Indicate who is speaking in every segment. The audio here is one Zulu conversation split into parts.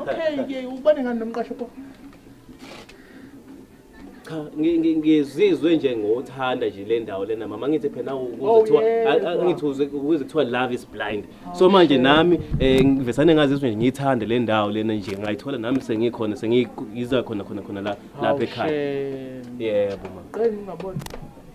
Speaker 1: okay ubane ngani nomqasho pho
Speaker 2: cha ngizizwe nje ngothanda nje le ndawo lena mama ngithi phela ukuzithiwa oh, ngithi ukuze kuthiwa love is blind oh, so manje nami eh, ngivesane ngazizwe nje ngiyithande le ndawo lena nje ngayithola nami sengikhona sengiyiza khona khona khona la lapha ekhaya yebo mama qela ngingabona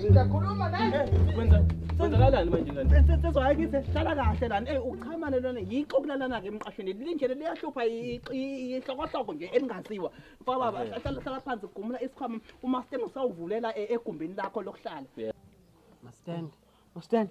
Speaker 3: Ngiyakhuluma naye. Kwenza kwenzakalani manje ngani? Sensizwa hayi kithi hlala
Speaker 1: kahle lana. Eh uchamane lona yixo kulalana ke emqashweni. Linjele liyahlupha ihlokohloko nje elingaziwa. Mfaka baba hlala hlala phansi gumula isikhwama uma stand usawuvulela egumbini lakho lokuhlala. Mastand. Mastand.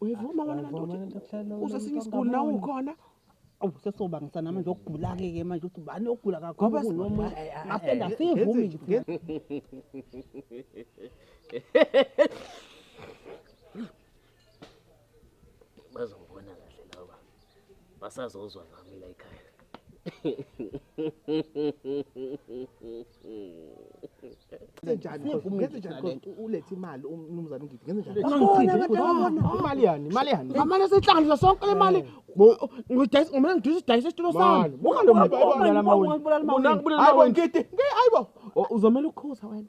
Speaker 1: uyivuma wena kanti uthi uze sinye isiguli nawe ukhona awu sesobangisa nami nje okugula-ke ke manje ukuthi ubani ogula Ngoba kakhulu si- kunomunye Ay, ay, ay, ngapenda ay, siyivumi nje thina.
Speaker 2: bazongibona kahle laba basazozwa ngami la ekhaya
Speaker 3: ulethe imali umnumzane ngidi ngenze njani imali yani imali yani amane sehlanganisa
Speaker 1: sonke le mali ngidayisa ngomele ngidayisa idayisa isitulo sami ungalomabona
Speaker 3: ngidi ayibo uzomela ukukhuza
Speaker 1: wena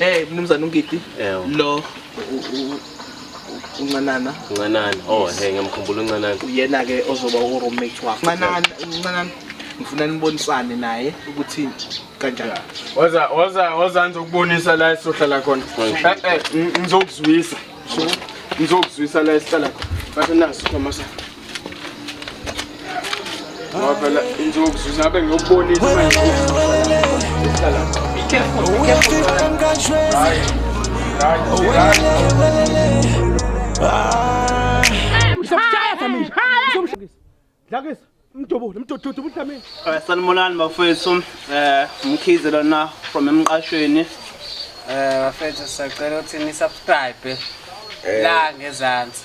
Speaker 3: Eh mnumzane uNgidi lo uncanana uncanana oh hey
Speaker 2: ngiyamkhumbula uncanana uyena ke ozoba
Speaker 3: u roommate wakho uncanana uncanana ngifuna nibonisane naye ukuthi kanjani waza waza waza ngizokubonisa la esohlala khona eh, eh, ngizokuzwisa ngizokuzwisa la esihlala khona bathi naso Thomas Ngoba phela insuku sizabe ngiyokubonisa manje. Be careful, be careful. Right. Right. Right. Usamshaya Dlamini. Usamshaya. Dlakisa. Mdubule, mdududu uDlamini. Eh, Sanibonani
Speaker 4: bafethu. Eh, umkhize lona from emqashweni. Eh,
Speaker 5: bafethu sisacela ukuthi ni subscribe la ngezansi.